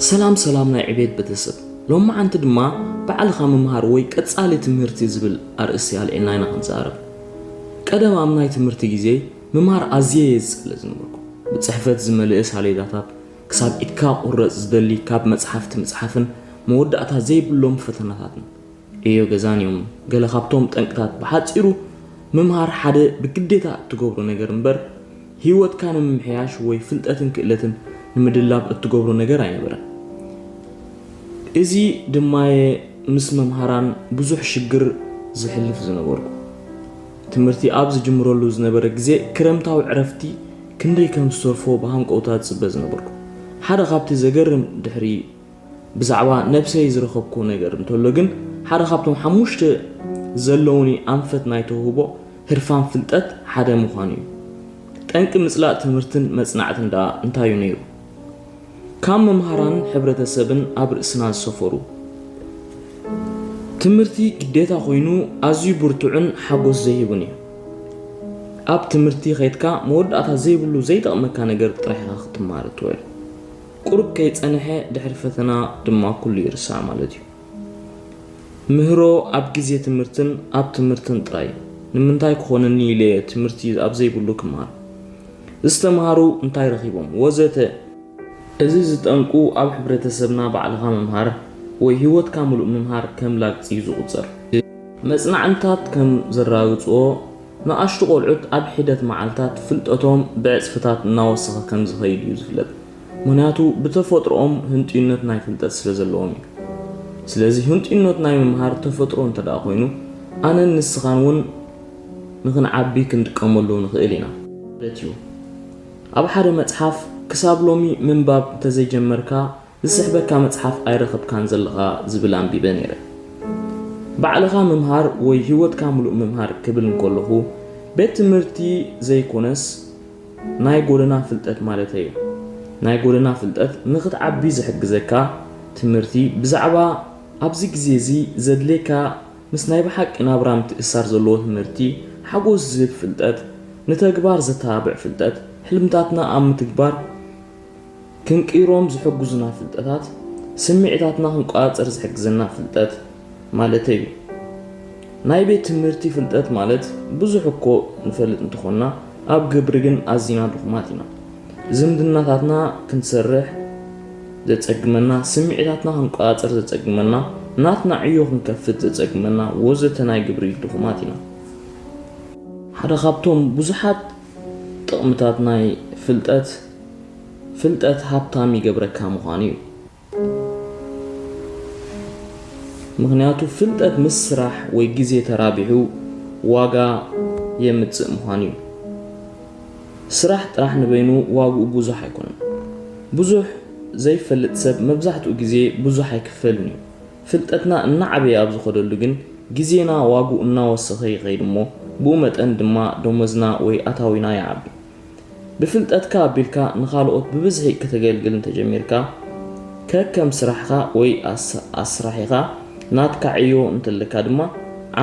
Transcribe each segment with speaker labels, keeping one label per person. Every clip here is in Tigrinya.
Speaker 1: ሰላም ሰላም ናይ ዕቤት ቤተሰብ ሎማዓንቲ ድማ ባዕልኻ ምምሃር ወይ ቀጻሊ ትምህርቲ ዝብል ኣርእስቲ ኣልዒልና ኢና ክንዛረብ ቀደም ኣብ ናይ ትምህርቲ ግዜ ምምሃር ኣዝየ እየ ዝጸልእ ዝነበርኩ ብጽሕፈት ዝመልእ ሳሌዳታት ክሳብ ኢድካ ክቁረጽ ዝደሊ ካብ መጽሓፍቲ ምጽሓፍን መወዳእታ ዘይብሎም ፈተናታትን ዕዮ ገዛን እዮም። ገለ ካብቶም ጠንቅታት ብሓጺሩ ምምሃር ሓደ ብግዴታ እትገብሮ ነገር እምበር ህይወትካ ንምምሕያሽ ወይ ፍልጠትን ክእለትን ንምድላብ እትገብሮ ነገር ኣይነበረን። እዚ ድማየ ምስ መምሃራን ብዙሕ ሽግር ዝሕልፍ ዝነበርኩ። ትምህርቲ ኣብ ዝጅምረሉ ዝነበረ ግዜ ክረምታዊ ዕረፍቲ ክንደይ ከም ዝተርፎ ብሃንቀውታ ዝጽበ ዝነበርኩ። ሓደ ካብቲ ዘገርም ድሕሪ ብዛዕባ ነብሰይ ዝረኸብኩዎ ነገር እንተሎ ግን ሓደ ካብቶም ሓሙሽተ ዘለዉኒ ኣንፈት ናይ ተውህቦ ህርፋን ፍልጠት ሓደ ምዃኑ እዩ። ጠንቂ ምጽላእ ትምህርትን መጽናዕትን ደኣ እንታይ እዩ ነይሩ? ካብ መምሃራን ሕብረተሰብን ኣብ ርእስና ዝሰፈሩ ትምህርቲ ግዴታ ኮይኑ ኣዝዩ ብርቱዕን ሓጎስ ዘይህብን እዩ። ኣብ ትምህርቲ ከድካ መወዳእታ ዘይብሉ ዘይጠቕመካ ነገር ጥራሕ ኢኻ ክትማሃር እትውዕል። ቁሩብ ከይጸነሐ ድሕሪ ፈተና ድማ ኩሉ ይርሳዕ ማለት እዩ። ምህሮ ኣብ ግዜ ትምህርትን ኣብ ትምህርትን ጥራይ ንምንታይ ክኾነኒ ኢለ ትምህርቲ ኣብ ዘይብሉ ክመሃር? ዝተመሃሩ እንታይ ረኺቦም? ወዘተ። እዚ ዝጠንቁ ኣብ ሕብረተሰብና ባዕልኻ ምምሃር ወይ ህይወትካ ምሉእ ምምሃር ከም ላግጺ እዩ ዝቑጸር። መጽናዕንታት ከም ዘራግጽዎ፣ ንኣሽቱ ቆልዑት ኣብ ሒደት መዓልታት ፍልጠቶም ብዕጽፍታት እናወሰኸ ከም ዝኸይድ እዩ ዝፍለጥ። ምኽንያቱ ብተፈጥሮኦም ህንጡይነት ናይ ፍልጠት ስለ ዘለዎም እዩ። ስለዚ ህንጡይነት ናይ ምምሃር ተፈጥሮ እንተድኣ ኮይኑ ኣነን ንስኻን እውን ንኽንዓቢ ክንጥቀመሉ ንኽእል ኢና። ማለት እዩ። ኣብ ሓደ መጽሓፍ ክሳብ ሎሚ ምንባብ እንተዘይጀመርካ ዝስሕበካ መጽሓፍ ኣይረኸብካን ዘለኻ ዝብል ኣንቢበ ነይረ። ባዕልኻ ምምሃር ወይ ህይወትካ ምሉእ ምምሃር ክብል እንከለኹ ቤት ትምህርቲ ዘይኮነስ ናይ ጎደና ፍልጠት ማለተይ'ዩ። ናይ ጎደና ፍልጠት ንኽትዓቢ ዝሕግዘካ ትምህርቲ ብዛዕባ ኣብዚ ግዜ'ዚ ዘድልየካ ምስ ናይ ብሓቂ ናብራ ምትእስሳር ዘለዎ ትምህርቲ ሓጎስ ዝህብ ፍልጠት ንተግባር ዘተባብዕ ፍልጠት ሕልምታትና ኣብ ምትግባር ክንቅይሮም ዝሕግዙና ፍልጠታት፣ ስምዒታትና ክንቆጻጸር ዝሕግዘና ፍልጠት ማለተይ እዩ። ናይ ቤት ትምህርቲ ፍልጠት ማለት ብዙሕ እኮ ንፈልጥ እንተኾንና ኣብ ግብሪ ግን ኣዚና ድኹማት ኢና። ዝምድናታትና ክንሰርሕ ዘጸግመና፣ ስምዒታትና ክንቆጻጸር ዘጸግመና፣ ናትና ዕዮ ክንከፍት ዘጸግመና ወዘተ ናይ ግብሪ ድኹማት ኢና። ሓደ ካብቶም ብዙሓት ጥቕምታት ናይ ፍልጠት፣ ፍልጠት ሃብታም ይገብረካ ምዃኑ እዩ። ምኽንያቱ ፍልጠት ምስ ስራሕ ወይ ግዜ ተራቢሑ ዋጋ የምጽእ ምዃኑ እዩ። ስራሕ ጥራሕ ንበይኑ ዋግኡ ብዙሕ ኣይኮነን። ብዙሕ ዘይፈልጥ ሰብ መብዛሕትኡ ግዜ ብዙሕ ኣይክፈልን እዩ። ፍልጠትና እናዓበየ ኣብ ዝኸደሉ ግን ግዜና ዋግኡ እናወሰኸ ይኸይድ እሞ ብኡ መጠን ድማ ደሞዝና ወይ ኣታዊና ይዓቢ። ብፍልጠትካ ኣቢልካ ንኻልኦት ብብዝሒ ክተገልግል እንተጀሚርካ ከከም ስራሕኻ ወይ ኣስራሒኻ ናትካ ዕዮ እንተለካ ድማ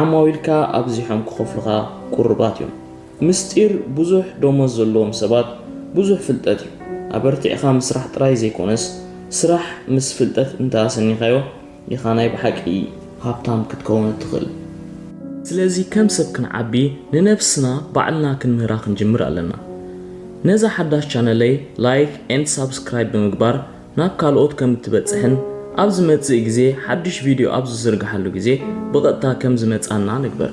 Speaker 1: ዓማዊልካ ኣብዚሖም ክኸፍሉኻ ቁሩባት እዮም። ምስጢር ብዙሕ ደሞዝ ዘለዎም ሰባት ብዙሕ ፍልጠት እዩ። ኣበርቲዕካ ምስራሕ ጥራይ ዘይኮነስ ስራሕ ምስ ፍልጠት እንተ ኣሰኒኻዮ ኢኻ ናይ ብሓቂ ሃብታም ክትከውን እትኽእል። ስለዚ ከም ሰብ ክንዓቢ ንነብስና ባዕልና ክንምህራ ክንጅምር ኣለና። ነዛ ሓዳሽ ቻነለይ ላይክ and ሳብስክራይብ ብምግባር ናብ ካልኦት ከም እትበጽሕን ኣብ ዝመጽእ ግዜ ሓድሽ ቪድዮ ኣብ ዝዝርግሓሉ ግዜ ብቐጥታ ከም ዝመጻና ንግበር።